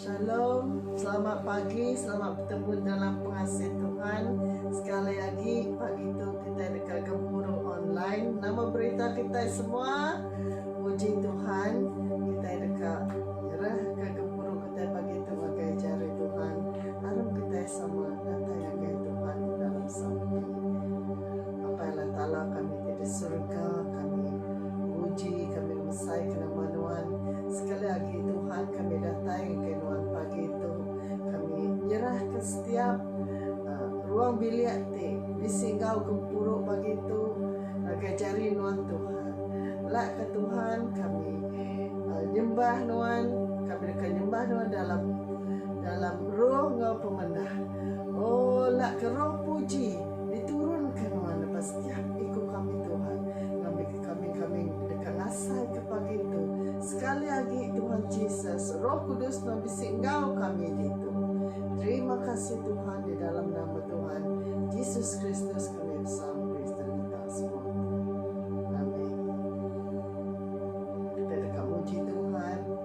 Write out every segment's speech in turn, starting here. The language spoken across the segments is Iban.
Shalom, selamat pagi, selamat betemu dalam pengasih Tuhan. Sekali agi pagi tu kitai deka gempuru online. Nama berita kitai semua? Muji Tuhan, kitai deka nyerahka gempuru kitai pagi tu ngagai jari Tuhan. Aram kitai sama datai ngagai Tuhan dalam sampi. Apai Allah Taala kami ti di surga kami muji kami mesai ke nama nuan sekali agi Tuhan kami datai engkai nuan pagi tu kami nyerah ke setiap ruang bilik ti bisi enggau gempuru pagi tu ngagai jari nuan Tuhan lak ka Tuhan kami nyembah nuan kami deka nyembah nuan dalam dalam roh enggau pemendah oh lak ke roh puji. Diturunka nuan lepas tiap iku kami Tuhan ngambika kambing-kambing deka ngasaika pagi tu. Sekali agi, Tuhan Jesus, Roh Kudus nuan bisi enggau kami ditu. Terima kasih Tuhan di dalam nama Tuhan Jesus Kristus kami besampi serta minta semua tu. Amen. Kita deka muji Tuhan.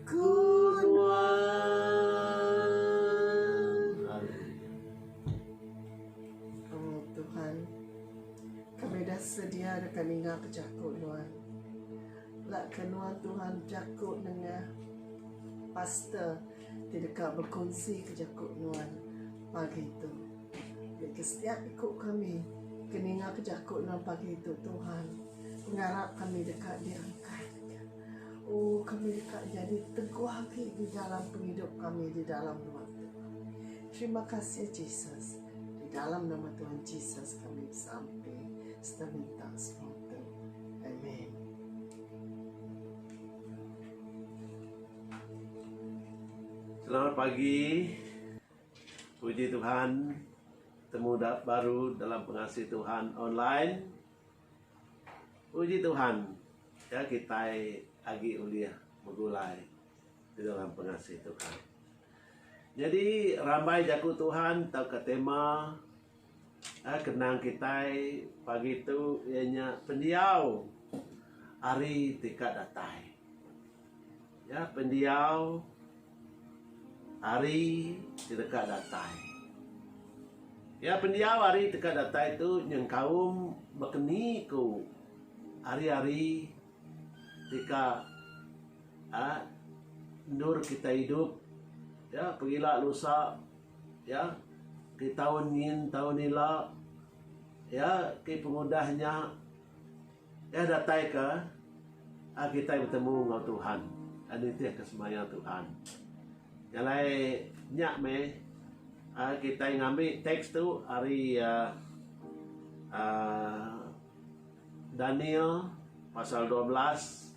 Ku nuan. Haleluya. Oh Tuhan, kami dah sedia deka ninga ke jaku nuan. Laka nuan Tuhan jaku nengah pastor ti deka bekunsi ke jaku nuan pagi tu. Nya ke setiap iku kami ke ninga ke jaku nuan pagi tu Tuhan, pengarap kami deka diangkat. Oh kami deka nyadi teguh agi di dalam pengidup kami di dalam rumah tu. Terima kasih Jesus. Di dalam nama Tuhan Jesus kami sampai serta minta semua tu. Amen. Selamat pagi. Puji Tuhan. Temu baru dalam pengasih Tuhan online. Puji Tuhan, ke kitai agi ulih begulai di dalam pengasih Tuhan. Nyadi rambai Jaku Tuhan tauka tema eh kenang kitai pagi tu iya nya pendiau hari ti ka datai. Nya pendiau hari ti deka datai. Nya pendiau hari ti deka datai tu nyengkaum baka ni ku hari-hari ti ka aaa endur kita idup ya pengila lusa ya ti taun nyin taun ila ya ti pengudah nya. Iya datai ka kitai betemu enggau Tuhan, nitih ka semaya Tuhan. Jalai nya meh kitai ngambi teks tu ari uhh Daniel pasal dua belas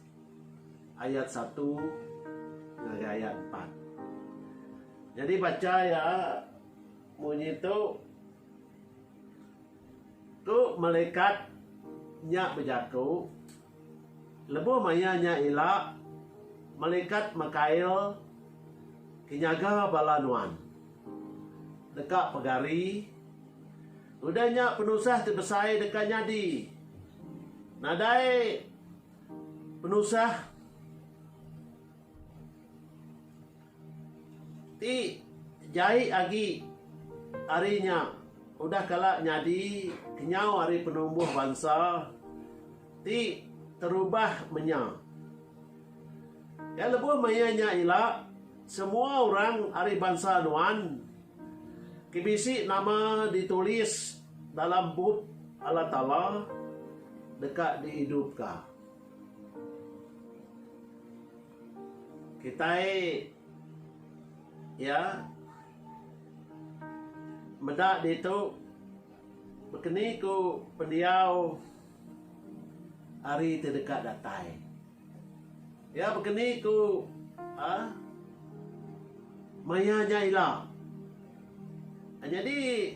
ayat satu ngagai ayat empat. Nyadi bacha iya munyi tu. Tu melikat nya bejaku, Lebuh maya nya ila, melikat Mikael ke nyaga bala nuan, deka pegari. Udah nya penusah ti besai deka nyadi. Nadai penusah. Ti jai agi ari nya udah kala nyadi kenyau ari penumbuh bansa ti terubah menya. Iya lebuh maya nya ila, semua orang ari bansa nuan ke bisi nama ditulis dalam Bup Allah Taala deka diidupka. Kitai iya meda ditu bekeni ku pendiau ari ti deka datai. Iya bekeni ku aaa maya nya ila. Nyadi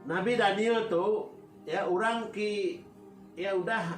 Nabi Daniel tu iya orang ti iya udah.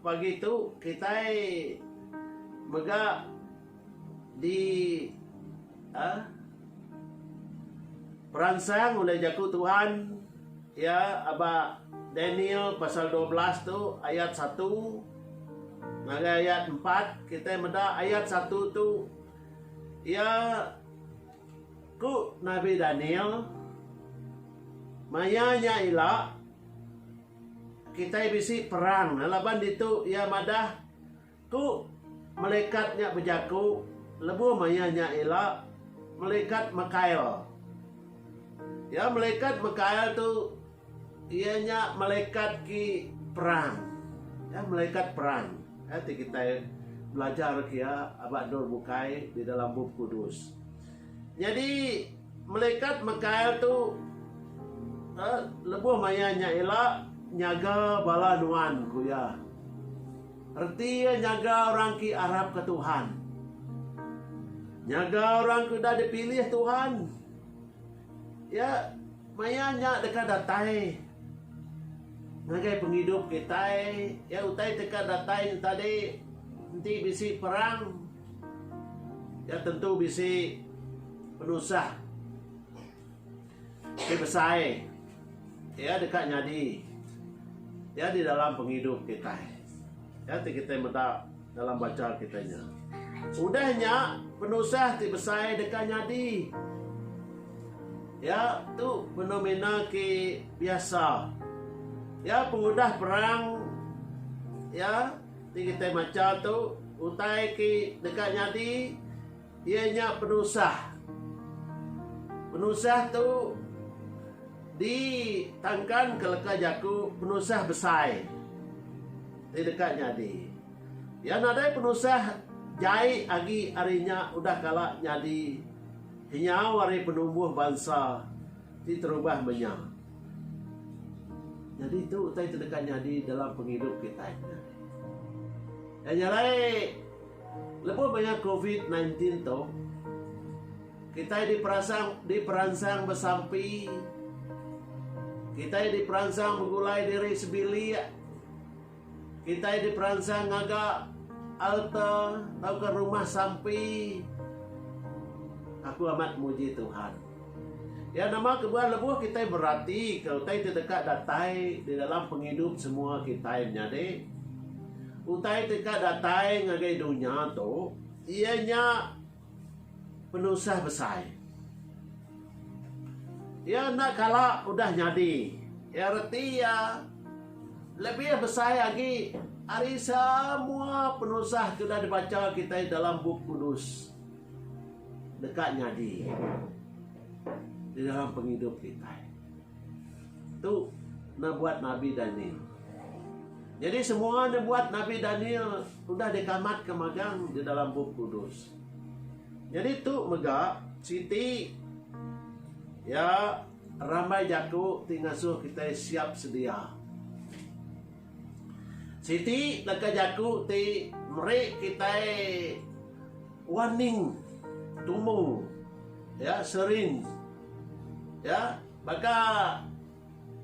Pagi tu kitai mega di peransang ulih Jaku Tuhan iya aba Daniel pasal dua belas tu ayat satu ngagai ayat empat. Kitai meda ayat satu tu iya ku nabi Daniel maya nya ila. Kitai bisi perang ne laban ditu iya madah ku malekat nya bejaku lebuh maya nya ila malekat Mikael. Iya malekat Mikael tu iya nya malekat ki perang. Iya malekat perang. Iya ti kitai belajar ke iya aba endur bukai di dalam Bup Kudus. Nyadi. Melikat Mikael tu lebuh maya nya ila nyaga bala nuan, ku iya. Reti iya nyaga orang ke arapka Tuhan. Nyaga orang ke udah dipilih Tuhan. Iya maya nya deka datai ngagai pengidup kitai. Iya utai deka datai nya tadi enti bisi perang. Iya tentu bisi penusah ti besai iya deka nyadi iya di dalam pengidup kitai. Iya ti kitai meda dalam banca kitai nya. Udah nya penusah ti besai deka nyadi. Iya tu fenomena ke biasa. Iya pengudah perang iya Ti kitai macha tu, utai ke deka nyadi iya nya penusah. Penusah tu ditangkanka leka jaku penusah besai ti deka nyadi. Iya nadai penusah jai agi ari nya udah kala nyadi kenyau ari penumbuh bansa ti terubah menya. Nyadi tu utai ti deka nyadi dalam pengidup kitai nya. Nya alai lebuh maya covid nine tin tu kitai diperasang diperansang besampi kitai diperansang begulai diri sebilik. Kitai diperansang ngaga alta tauka rumah sampi. Aku amat muji Tuhan. Iya nama kebuah lebuh kitai beratika utai ti deka datai di dalam pengidup semua kitai menyadi. Utai ti deka datai ngagai dunya tu iya nya. penusah besai. Iya enda kala udah nyadi iya reti iya lebih besai agi ari semua penusah ke udah dibacha kitai dalam Bup Kudus deka nyadi di dalam pengidup kitai. Tu nabuat nabi Daniel. Nyadi semua nabuat nabi Daniel udah dikamatka magang di dalam Bup Kudus. Nyadi tu mega siti ya rambai jaku ti ngasuh kitai siap sedia. Siti leka jaku ti meri kitai Wan ning tumu ya serin ya baka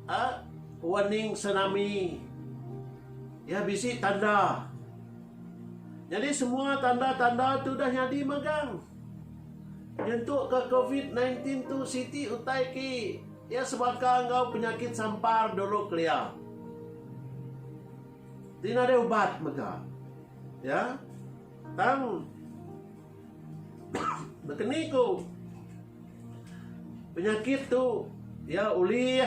a wan ning senami ya bisi tanda nyadi semua tanda tanda tu dah nyadi magang nyentuk ka covid sembilan belas tu siti utai ki ya sebaka enggau penyakit sampar dulu kelia ti nadai ubat mega ya. Tang nekeni ku penyakit tu iya ulih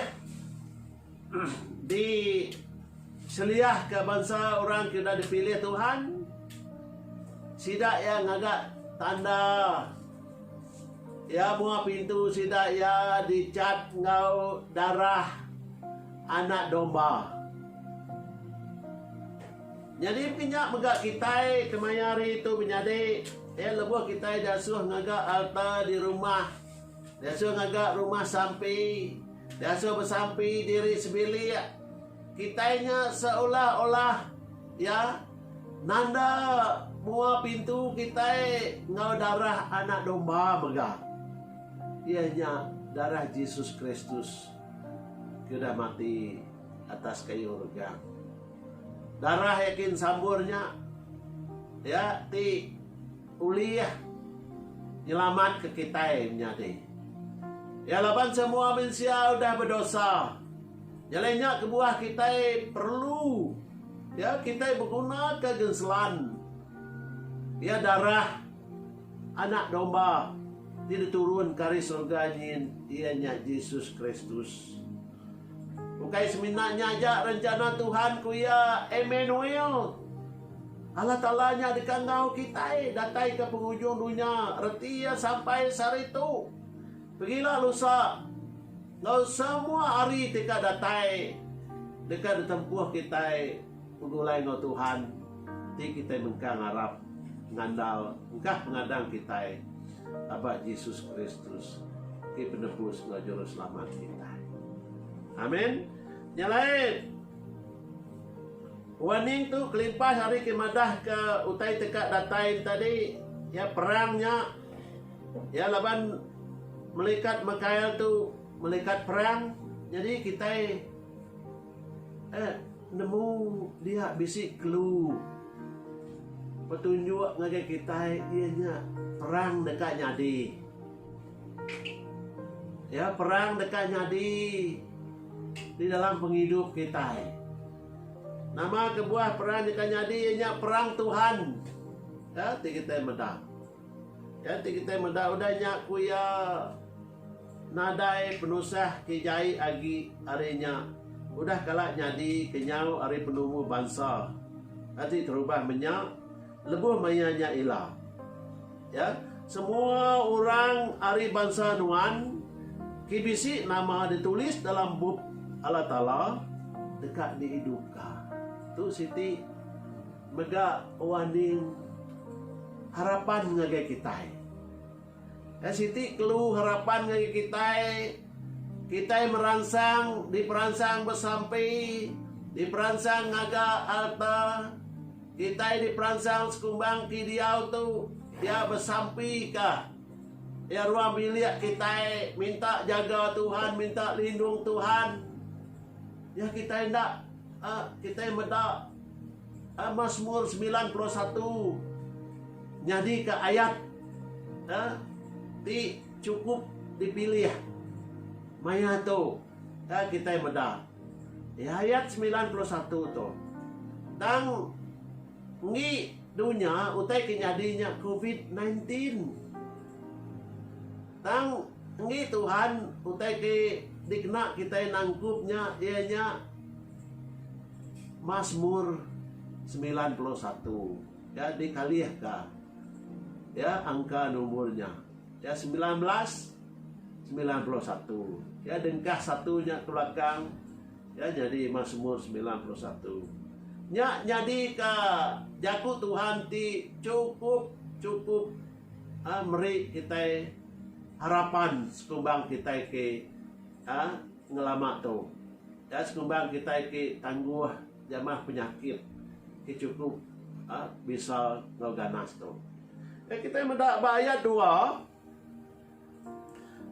diseliahka bansa orang ke udah dipilih Tuhan sida iya ngaga tanda iya mua pintu sida iya dichat enggau darah Anak Domba. Nyadi mpi nya mega kitai kemaya hari tu menyadi iya lebuh kitai diasuh ngaga alta di rumah, diasuh ngaga rumah sampi, diasuh besampi diri sebilik. Kitai nya seolah-olah iya nanda mua pintu kitai enggau darah Anak Domba mega, iya nya darah Jesus Kristus ke udah mati atas kayu regang. Darah yakin sambur nya ya ti ulih nyelamat ke kitai menyadi. Ya laban semua mensia udah bedosa. Nyelai nya kebuah kitai perlu ya kitai beguna ke genselan ya darah anak domba ti diturun ke ari surga nyin iya nya Jesus Kristus. Ukai semina nya aja rencana Tuhan, ku iya. Emanuel, Allah Taala nya deka enggau kitai dataika pengujung dunya reti iya sampai sehari tu. Pegila lusa enggau semua hari ti ka datai deka ditempuh kitai. Begulai enggau Tuhan ti kitai mengkang arap ngandal engkah pengadang kitai aba Jesus Kristus ti Penebus enggau Juruselamat kitai. Amin. Nya alai warning tu kelimpah ari ke madah ke utai te ka datai enta di ya perang nya ya laban melikat Mikael tu melikat perang jadi kitai Ed nemu dia bisi kelu petunjuk ngagai kitai iya nya perang deka nyadi. Ya perang deka nyadi di dalam pengidup kitai. Nama kebuah perang deka nyadi iya nya perang Tuhan. Ya ti kitai meda. Nya ti kitai meda udah nya ku iya nadai penusah ke jai agi ari nya udah kala nyadi kenyau ari penemu bansa ati terubah menya lebuh maya nya ila ya semua orang ari bansa nuan ke bisi nama ditulis dalam bup Allah taala deka diidupka tu siti Mega Wah Ning harapan ngagai kitai. Ai siti kelu harapan ngagai kitai, kitai meransang diperansang besampi, diperansang ngaga alta, kitai diperansang sekumbang ti diau tu iya besampika iya ruang bilik kitai minta jaga Tuhan minta lindung Tuhan. Iya kitai enda kitai meda. uh, Mazmur 91 nyadi ke ayat uh, ti cukup dipilih maya tu uh, kita meda di ayat 91 tu tang ngi dunya utai ke nyadi nya covid-19 tang ngi Tuhan utai ke dikena kita nangkup nya iya nya Masmur semilan puluh satu ya dikalih ka ya angka nombor nya ya semilan belas semilan puluh satu ya dengkah satu nya ke belakang ya nyadi masmur semilan puluh satu nya nyadi ka jaku Tuhan ti cukup cukup ha, meri kitai harapan sekumbang kitai ke ha, Ngelama tu, nya sekumbang kitai ti tangguh jamah penyakit ke chukup bisa enggau ganas tu. Nya kitai meda ba ayat dua,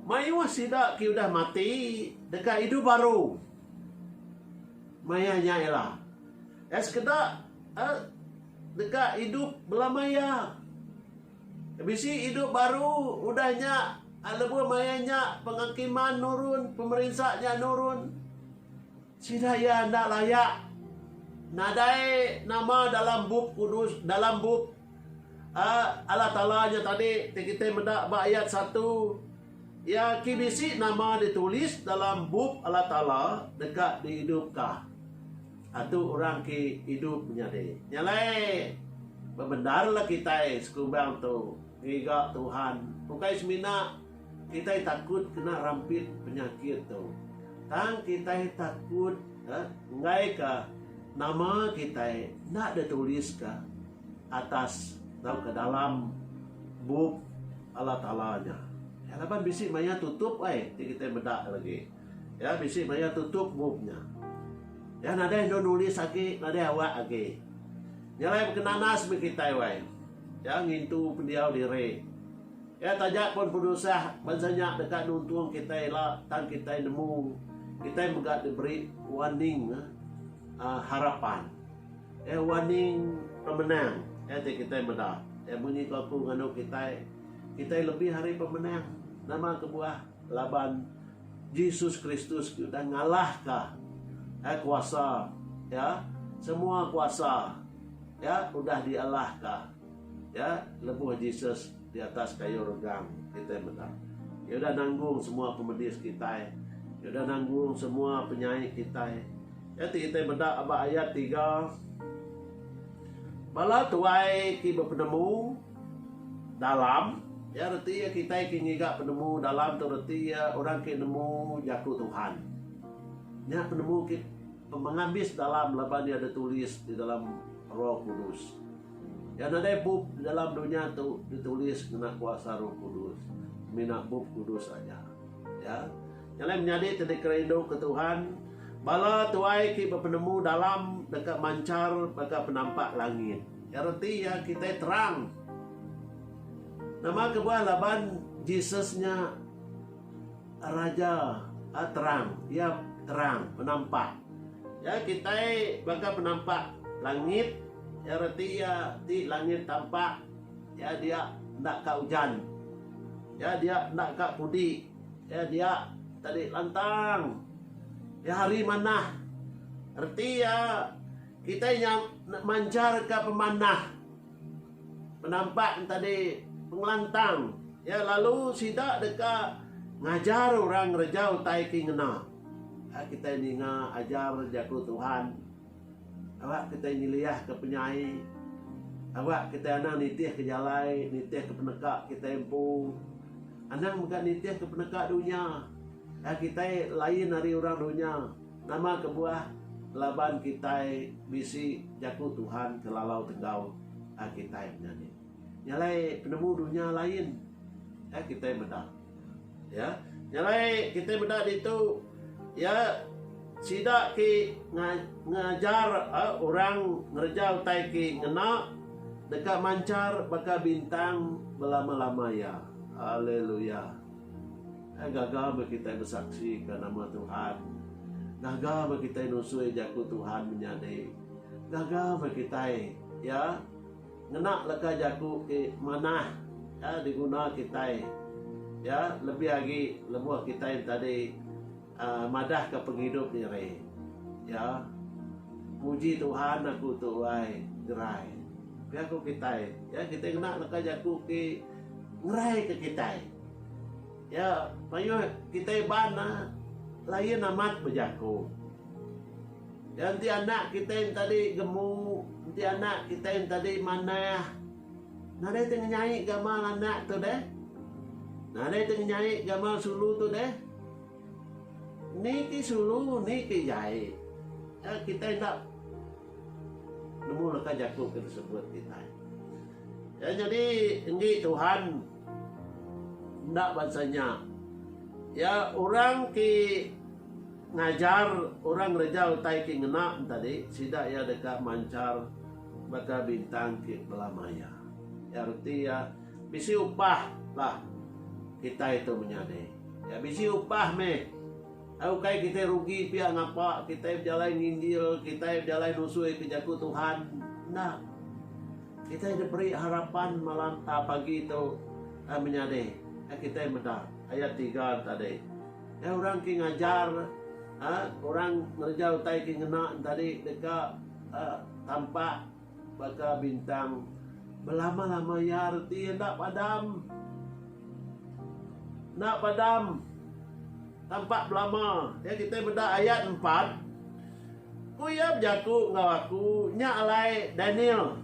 Mayuh sida ke udah mati deka idup baru. Maya nya iya lah, iya sekeda deka idup belama iya. Bisi idup baru udah nya lebuh maya nya penghakiman nurun, pemerinsa nya nurun. Sida iya enda laya nadai nama dalam Bup Kudus, dalam Bup Allah Taala nya tadi ti kitai meda ba ayat satu. Iya ki bisi nama ditulis dalam Bup Allah Taala deka diidupka. Atu orang ke idup nyadi. Nyalai bebendar la kitai sekubang tu ngiga Tuhan ukai semina kitai takut kena rampit penyakit tu tang kitai takut enggai ka nama kitai enda di tulis ka atas tau ka dalam bup Allah Taala nya laban bisi maya tutup ai ti kitai meda lagi. Iya bisi maya tutup bup nya. Iya nadai endur nulis agi, nadai awak agi. Nya alai baka nanas meh kitai wai. Iya ngintu pendiau diri. Iya taja pun penusah bansa nya deka nuntung kitai ila tang kitai nemu kitai mega diberi warning uhh harapan. Iya warning pemenang. Iya ti kitai meda. Iya munyi ke aku nganu kitai, kitai lebih ari pemenang. Nama kebuah? Laban Jesus Kristus ti udah ngalahka ai kuasa iya, semua kuasa iya udah dialahka iya lebuh Jesus di atas kayu regang, kitai meda. Iya udah nanggung semua pemedis kitai, iya udah nanggung semua penyai kitai. Iya ti kitai meda ba ayat tiga, Bala tuai ti bepenemu. Dalam, iya reti iya kitai ke ngiga penemu dalam tu reti iya orang ke nemu jaku Tuhan. Nya penemu ke pemengabis dalam laban iya ditulis di dalam Roh Kudus. Iya nadai bup di dalam dunya tu ditulis ngena kuasa Roh Kudus, semina Bup Kudus aja. Ya. Nya alai menyadi ti dikerinduka Tuhan, bala tuai ke bepenemu dalam deka manchar baka penampak langit. Iya reti iya kitai terang. Nama kebuah laban Jesus nya Raja terang. Iya terang, penampak. Ya kitai baka penampak langit. Iya reti iya ti langit tampak. Iya dia enda ka ujan. Iya dia enda ka pudi. Iya dia tadi lantang. Iya hari manah. Reti iya Kitai nya enda manjarka pemanah penampak entadi pengelantang iya lalu sida deka ngajar orang ngereja utai ti ngena. Enda kitai ninga ajar Jaku Tuhan aba kitai nyeliahka penyai, aba kitai anang nitihka jalai, nitihka peneka kitai empu, anang mega nitihka peneka dunya. Enda kitai lain ari orang dunya. Nama kebuah laban kitai bisi jaku Tuhan ke lalau tegau kitai menya ni? Nya alai penemu dunya lain ka kitai meda. Ya, nya alai kitai meda ditu ya sida ke ngajar orang ngereja utai ke ngena deka manchar baka bintang belama-lama iya. Haleluya! Gaga meh kitai besaksika nama Tuhan. Gaga meh kitai nusui jaku Tuhan menyadi. Gaga meh kitai, ya, ngena leka jaku ti manah, ya, diguna kitai, ya, lebih agi lebuh kitai enti tadi. Madahka pengidup diri iya. Puji Tuhan aku tu ai gerai. Pia ku kitai. Ya kitai ngena leka jaku ti ngerai ke kitai. Ya mayuh kitai iban ne lain amat bejaku. Ya enti anak kitai enti tadi gemu, enti anak kitai enti tadi manah. Nadai ti ngenyai gamal anak tu deh? Nadai ti ngenyai gamal sulu tu deh? Ni ti sulu, ni ti jai. Nya kitai enda nemu leka jaku ke disebut kitai. Nya nyadi enggi Tuhan enda bansa nya. Iya orang ti ngajar orang ngereja utai ti ngena tadi sida iya deka manchar. Baka bintang ti belama iya. Iya reti iya bisi upah lah kitai tu menyadi. Iya bisi upah meh. Ai ukai kitai rugi pia ngapa kitai bejalai nginjil, kitai bejalai nusui ke jaku Tuhan. Enda. Kitai diberi harapan malam a pagi tu ai menyadi. Ai kitai meda ayat tiga tadi. Ai orang ke ngajar a orang ngereja utai ke ngena tadi deka. Tampak baka bintang belama-lama iya reti iya enda padam. Enda padam. Tampak belama. Ya kitai meda ayat empat. Ku iya bejaku enggau aku, Nya alai, Daniel.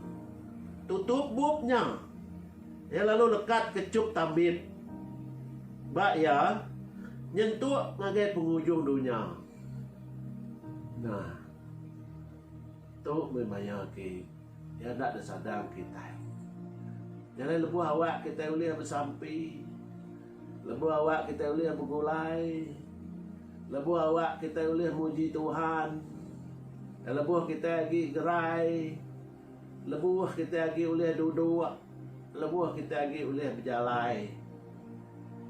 Tutup bup nya. Iya lalu lekat kechup tambit ba iya nyentuk ngagai pengujung dunya. Nah. Tu mih maya ti iya enda disadang kitai. Nyadi lebuh awak kitai ulih besampi, lebuh awak kitai ulih begulai, lebuh awak kitai ulih muji Tuhan, lebuh kitai agi gerai, lebuh kitai agi ulih duduk, lebuh kitai agi ulih bejalai.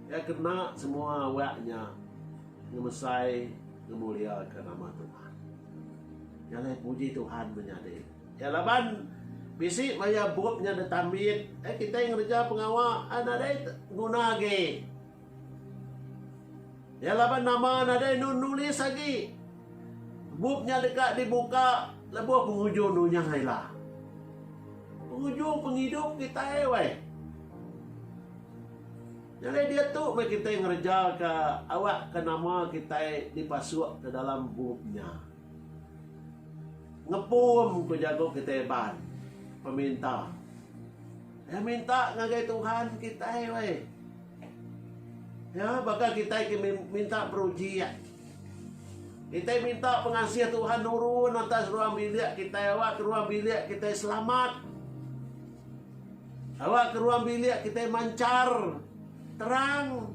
Iya kena semua awak nya. Ngemesai ngemuliaka nama Tuhan. Jalai puji Tuhan menyadi. Ya laban bisi maya bup nya detambit eh kitai ngereja pengawa eh nadai nguna agi. Ya laban nama nadai nu nulis agi. Bup nya deka dibuka lebuh penguju nunya ila. Penguju pengidup kitai weh. Nyadi diatu meh kitai ngerejaka awakka nama kitai dipasukka dalam bup nya. Ngepum ku jaku kitai Iban, peminta. Iya minta ngagai Tuhan kitai weh. Ya, baka kitai ke minta perujik. Kitai minta pengasih Tuhan nurun atas ruang bilik kitai awakka ruang bilik kitai selamat. Awak ke ruang bilik kitai manchar terang.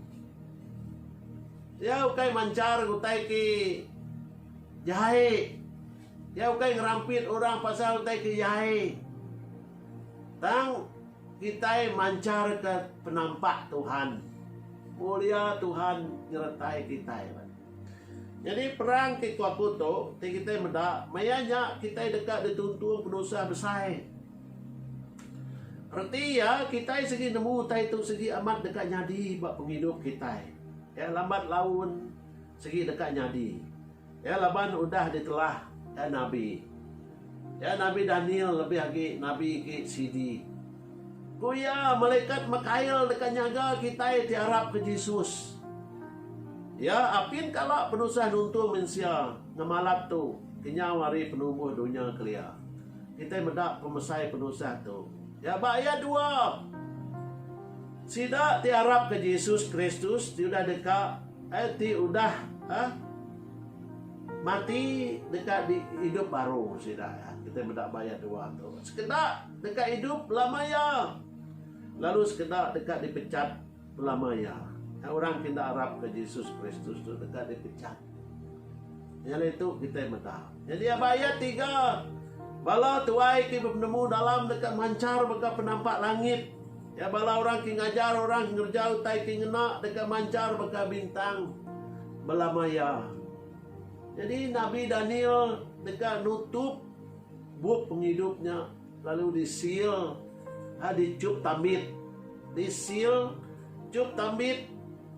Iya ukai manchar utai ke jai. Iya ukai ngerampit orang pasal utai ke jai. Tang kitai mancharka penampak Tuhan. Mulia Tuhan nyertai kitai. Nyadi perang ti ku aku tu ti kitai meda maya nya kitai deka dituntung penusah besai. Reti iya kitai sigi nemu utai tu sigi amat deka nyadi ba pengidup kitai. Iya lambat laun sigi deka nyadi. Iya laban udah ditelah nabi. Ya Nabi Daniel lebih agi nabi ke sidi. Ku iya, Malekat Mekail deka nyaga kitai ti arap ke Jesus. Iya apin kala penusah nuntung mensia ngemalat tu kenyau ari penumbuh dunya kelia. Kitai meda pemesai penusah tu. Ya ba ayat dua, sida ti arap ke Jesus Kristus ti udah deka, eh, ti udah, eh, Mati deka di idup baru sida iya. Kitai meda ba ayat dua tu. Sekeda deka idup belama iya, lalu sekeda deka dipecat belama iya. Orang ke enda arapka Jesus Kristus tu deka dipecat. Iya lah itu kitai meda. Nyadi ba ayat tiga, bala tuai ti bepenemu dalam deka manchar mega penampak langit. Iya bala orang ke ngajar orang ngereja utai ke ngena deka manchar baka bintang belama iya. Nyadi nabi Daniel deka nutup bup pengidup nya lalu disil lalu dichup tambit. Disil, chup tambit,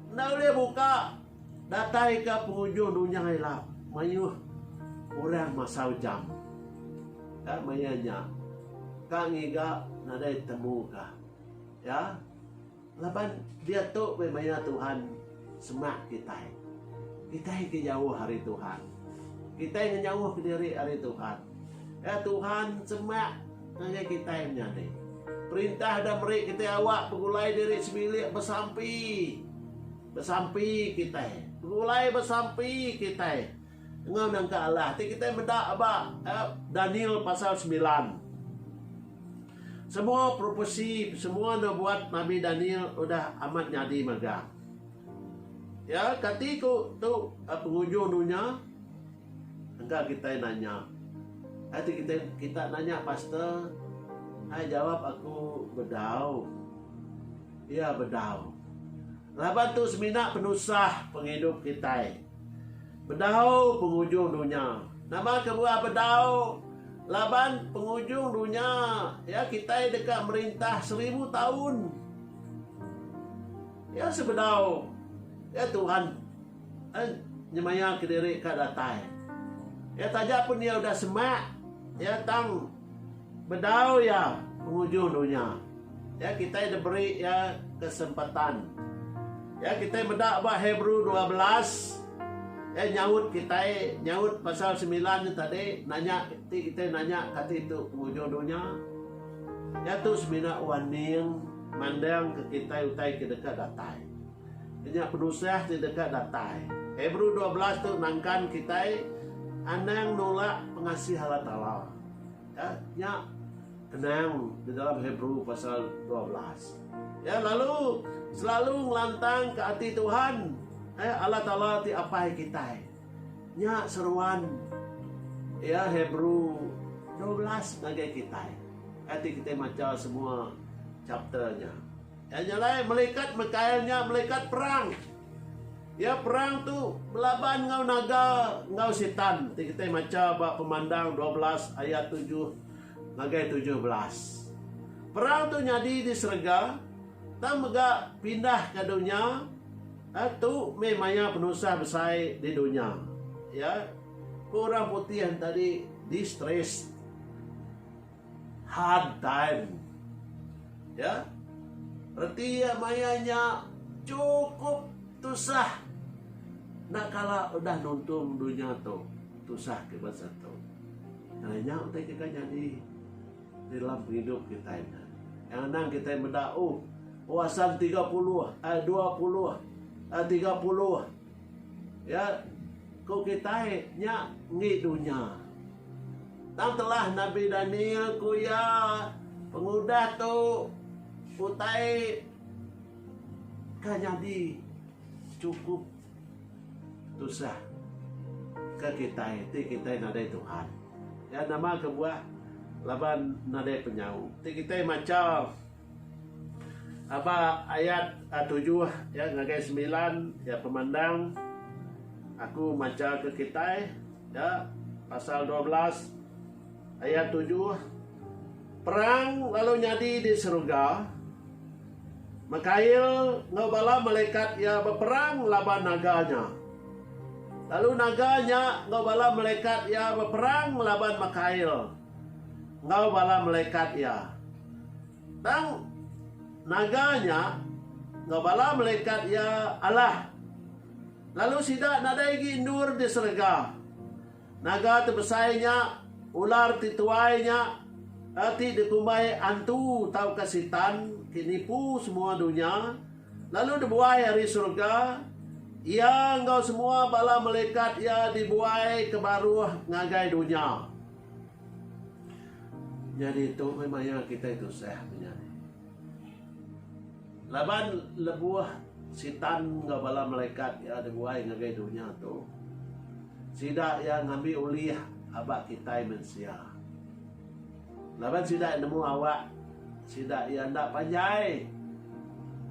enda ulih buka. Datai ka penghujung dunya ila mayuh orang masa ujang ka maya nya ka ngiga nadai temu ka iya laban diatu meh maya Tuhan semak kitai. Kitai ke jauh ari Tuhan. Kitai ngenyauh ke diri ari Tuhan. Iya Tuhan semak ngagai kitai menyadi. Perintah da meri kitai awak begulai diri sebilik besampi. Besampi kitai. Begulai besampi kitai enggau nangka Allah ti kitai meda ba Daniel pasal semilan. Semua propesi, semua nubuat nabi Daniel udah amat nyadi mega. Ya, kati ku tu pengujung dunya? Engka kitai nanya. Ai ti kitai kita nanya pastor? Ai jawab aku bedau. Iya bedau. Laban tu semina penusah pengidup kitai. Bedau pengujung dunya. Nama kebuah bedau? Laban pengujung dunya iya kitai deka merintah seribu taun. Iya sebedau iya Tuhan eh, nyemaya kediri ka datai. Iya taja pun iya udah semak, iya tang Bedau iya penguju dunya, iya kitai diberi iya kesempatan. Iya kitai meda ba Hebrew dua belas, iya nyaut kitai, nyaut pasal sembilan nya tadi, nanya ti kitai nanya kati tu penguju dunya. Iya tu semina wan ning mandangka kitai utai ke deka datai. Nya penusah ti deka datai. Hebrew dua belas tu nangkan kitai anang nulak pengasih Allah Taala. Ya, nya kenang di dalam Hebrew pasal dua belas. Ya, lalu selalu ngelantangka ati Tuhan, eh, Allah Taala ti Apai kitai. Nya seruan ya Hebrew dua belas ngagai kitai. Ati kitai macha semua chapter nya. Iya nya alai malikat Mikael nya malikat perang. Iya perang tu belaban enggau naga enggau sitan ti kitai macha ba Pemandang dua belas ayat tujuh ngagai tujuh belas. Perang tu nyadi di serega tang mega pindah ka dunya eh, tu meh maya penusah besai di dunya. Ya, ku orang putih tadi distressed. Haddan. Ya. Reti iya maya nya chukup tusah. Enda kala udah nuntung dunya tu tusah ke bansa tu. Ngena nya utai ke ka nyadi di dalam pengidup kitai nya. Yang anang kitai meda oh oh asal tiga puluh ai dua puluh ai tiga puluh ya ko kitai nya ngi dunya. Tang telah Nabi Daniel ku iya, Pengudah tu utai ke nyadi chukup tusah ke kitai ti kitai nadai Tuhan. Iya nama kebuah laban nadai penyau. Ti kitai macha. Aba ayat tujuh ya ngagai semilan ya pemandang aku macha ke kitai ya pasal dua belas ayat tujuh perang lalu nyadi di seruga Mikail enggau bala malekat iya beperang laban naga nya. Lalu naga nya enggau bala malekat iya beperang laban Mikail enggau bala malekat iya. Tang naga nya enggau bala malekat iya alah, lalu sida nadai agi endur di serega. Naga ti besai nya, ular ti tuai nya, ti dikumbai Antu tauka Sitan ti nipu semua dunya, lalu dibuai ari serega, iya enggau semua bala malekat iya dibuai ke baruh ngagai dunya. Nyadi tu meh maya kitai tusah menya ni. Laban lebuh Sitan enggau bala malaikat iya dibuai ngagai dunya tu, sida iya ngambi ulih aba kitai mensia. Laban sida iya nemu awak sida iya enda panjai.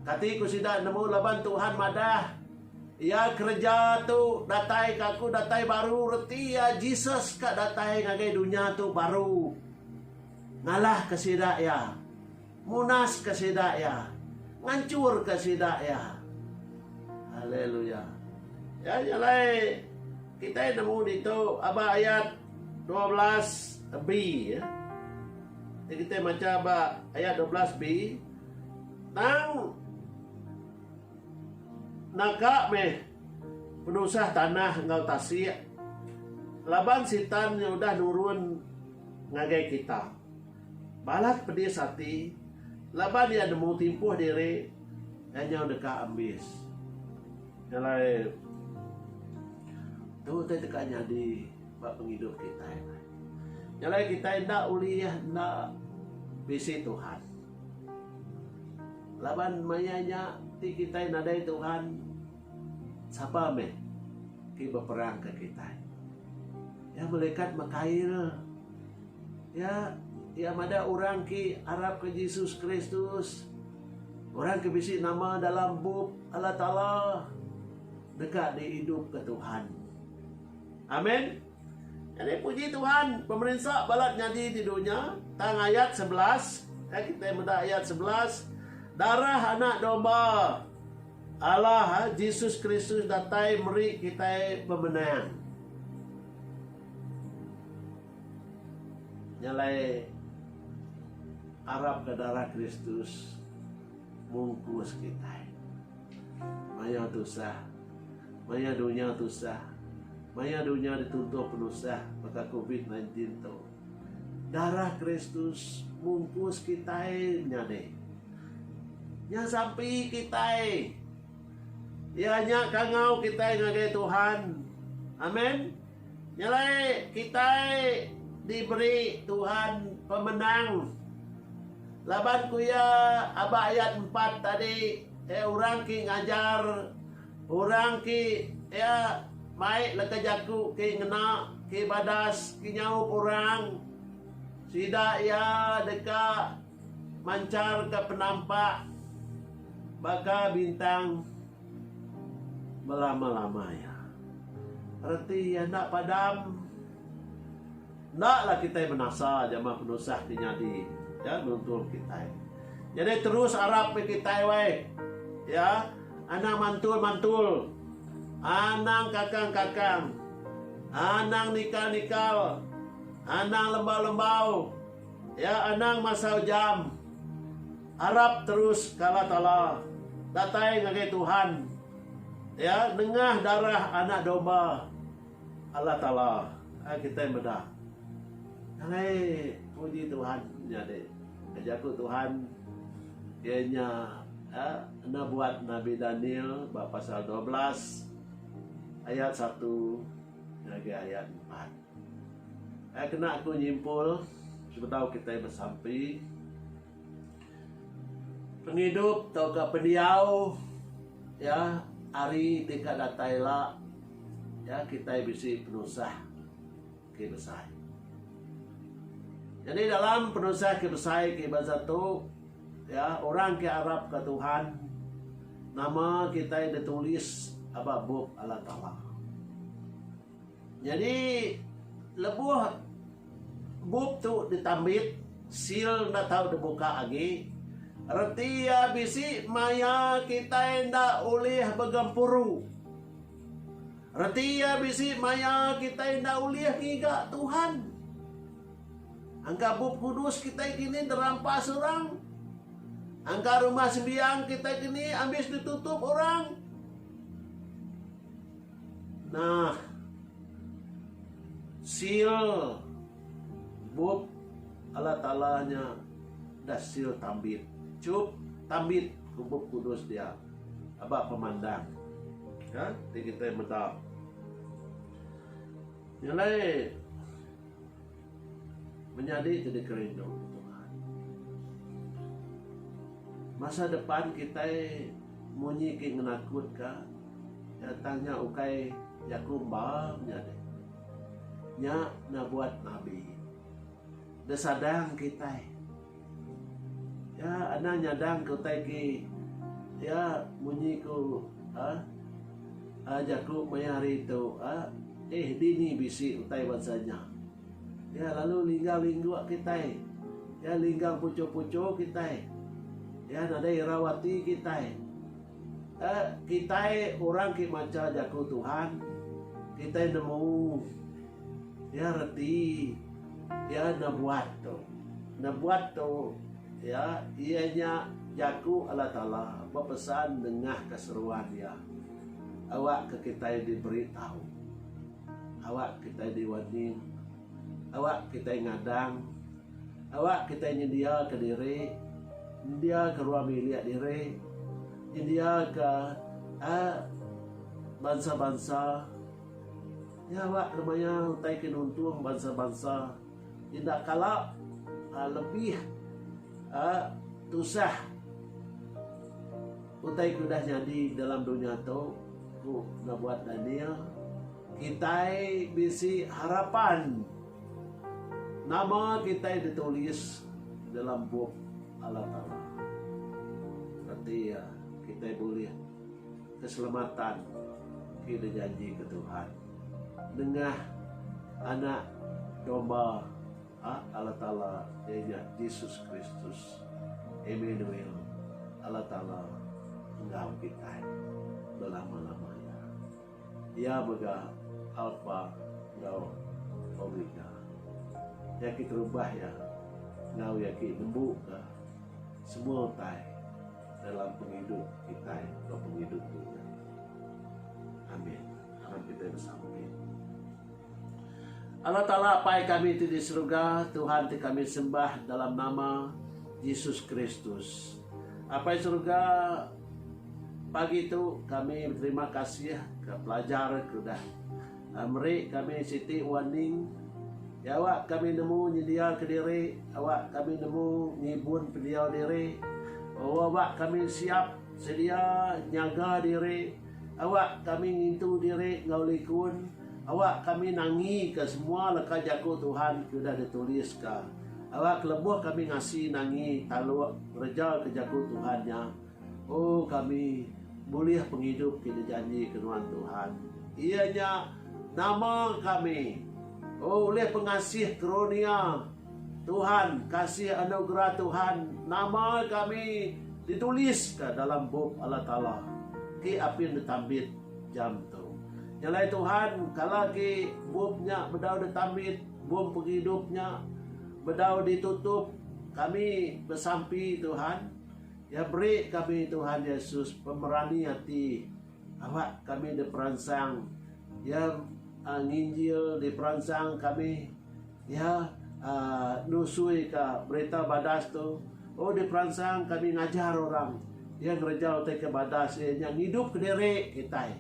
Kati ku sida nemu laban Tuhan madah. Iya kereja tu datai ka aku datai baru reti iya Jesus ka datai ngagai dunya tu baru ngalah ka sida iya munas ka sida iya nganchur ka sida iya haleluya iya nya alai kitai nemu ditu aba ayat 12 B ya kitai macha ba ayat 12 B tang Naga meh penusah tanah enggau tasik laban Sitan nya udah nurun ngagai kita. Balat pedis ati laban iya nemu timpuh diri iya nyau deka ambis. Nya alai tu utai deka nyadi ba pengidup kitai. Nya alai kitai enda ulih enda bisi Tuhan. Laban maya nya ti kitai nadai Tuhan, sapa meh ti beperangka kitai? Iya melekat mekail. Iya iya madah orang ke arapka Jesus Kristus, orang ke bisi nama dalam Bup Allah Taala deka diidupka Tuhan. Amen. Nyadi puji Tuhan pemerinsa balat nyadi di dunya tang ayat sebelas eh kita meda ayat sebelas darah anak domba Allah eh, Jesus Kristus datai meri kita pemenang. Nyalai arap ke darah Kristus mungkus kita. Maya tusah. Maya dunya tusah. Maya dunya dituntuh penusah baka covid nineteen tu. Darah Kristus mungkus kitai menyadi. Nya sampi kitai. Iya nya kangau kitai ngagai Tuhan. Amen. Nyelai kitai diberi Tuhan pemenang. Laban ku iya aba ayat empat tadi eh orang ki ngajar orang ki iya mai leka jaku ki ngena ki badas ki nyaup orang sida iya deka manchar ka penampak baka bintang. Belama-lama iya. Reti iya enda padam. Endaklah kitai menasa jama penusah ti nyadi ya nuntung kitai. Nyadi terus arap meh kitai wai. Ya, anang mantul-mantul. Anang kakang-kakang. Anang nikal-nikal. Anang lembau-lembau. Ya, anang masau jam. Arap terus ke Allah Taala. Datai ngagai Tuhan. Iya nengah darah Anak Domba Allah Taala. Ai kitai meda. Alai puji Tuhan nyadi. Ke jaku Tuhan iya nya enda buat Nabi Daniel ba pasal dua belas ayat satu ngagai ayat empat. Ai kena aku nyimpul sebedau kitai besampi. Pengidup tauka pendiau iya hari ti ka datai ila iya kitai bisi penusah ke besai. Jadi dalam penusah ke besai ke bansa tu iya orang ke arap ka Tuhan nama kitai ditulis aba bup Allah Taala. Nyadi lebuh bup tu ditambit, seal enda tau dibuka agi, reti iya bisi maya kitai enda ulih begempuru. Reti iya bisi maya kitai enda ulih ngiga Tuhan. Angka bup kudus kitai kini dirampas orang. Angka rumah sembiang kitai kini abis ditutup orang. Nah. Seal bup Allah Taala nya udah seal tambit. Chup tambit ku Bup Kudus dia aba pemandang ka ti kitai meda. Nya alai. Menyadi ti dikerindu Tuhan. Masa depan kitai munyi ki ngenakut ka nya tang nya ukai jaku emba menyadi. Nya nabuat nabi. Desadang kitai. Iya anang nyadang ke utai ke iya munyi ku aaa jaku maya hari tu aaa eh dini bisi utai bansa nya. Iya lalu linggang lingguk kitai. Iya linggang puchur puchur kitai. Iya nadai irau ati kitai. Aaa kitai orang ke macha jaku Tuhan kitai nemu iya reti. Iya nebuat tu. Nebuat tu iya iya nya jaku Allah Taala bepesan nengahka seruan Iya. Awakka kitai diberi tau. Awak kitai diwarning. Awak kitai ngadang. Awak kitai nyendiaka diri, nyendiaka ruang bilik diri, nyendiaka aaa bansa-bansa. Nya alak ke maya utai ke nuntung bansa-bansa enda kala lebih tusah utai ke udah nyadi dalam dunya tu, ku Nabuat Daniel. Kitai bisi harapan nama kitai ditulis dalam Bup Allah Taala. Reti iya, kitai bulih. Keselamatan ti dijanjika Tuhan nengah Anak Domba Allah Taala iya nya Jesus Kristus, Immanuel, Allah Taala enggau kitai belama-lama iya. Iya mega Alpha enggau Omega. Iya keterubah iya enggau iya ke nembuka semua utai. dalam pengidup kitai ba pengidup dunya. Amin. Aram kitai besamping. Allah Taala Apai kami ti di seruga, Tuhan ti kami sembah dalam nama Jesus Kristus. Apai seruga, pagi tu kami beterima kasih ke pelajar ke udah Meri kami siti warning, Iya awak kami nemu nyendia kediri, awak kami nemu ngibun pendiau diri, awak kami siap sedia nyaga diri, awak kami ngintu diri enggau likun, awak kami nangika semua leka Jaku Tuhan ke udah dituliska, awak kelebuh kami ngasi nangi taluk ngereja ke Jaku Tuhan nya. Oh kami bulih pengidup ti dijanjika nuan Tuhan, iya nya nama kami. Oh ulih pengasih kerunia Tuhan, kasih anugerah Tuhan, nama kami dituliska dalam Bup Allah Taala ti apin ditambit jam tu. Nya alai Tuhan, kala agi Bup nya bedau ditambit, Bup Pengidup nya bedau ditutup, kami besampi Tuhan, Iya beri kami Tuhan Yesus pemerani ati awak kami diperansang. Iya nginjil diperansang kami. Iya nusui ka berita badas tu. Oh diperansang kami ngajar orang. Iya ngereja utai ke badas iya nya ngidup ke diri kitai.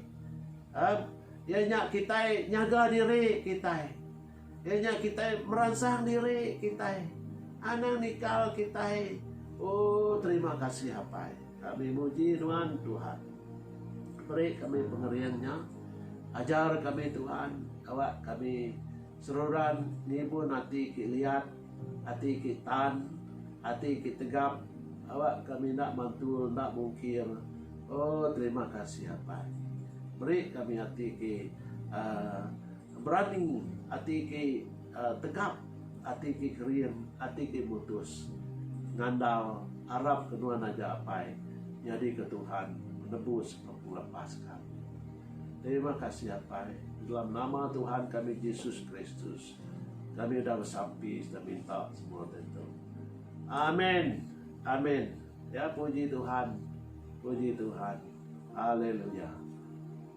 Iya nya kitai nyaga diri kitai. Iya nya kitai meransang diri kitai anang nikal kitai. Oh terima kasih apai. Kami muji nuan Tuhan. Beri kami pengering nya. Ajar kami Tuhan awak kami seruran ngibun ati ki liat, ati ki tan, ati ki tegap awak kami enda mantul enda mungkir. Oh terima kasih apai. Beri kami ati ki uh, Berani ati ke tegap, ati ke kerim, ati ke mutus ngandal arap ke nuan aja apai nyadi ke Tuhan penebus ke pengeleppas kami. Terima kasih apai, di dalam nama Tuhan kami Jesus Kristus kami udah besampi serta minta semua tentu. Amen. Amen. Ya puji Tuhan. Puji Tuhan. Haleluya.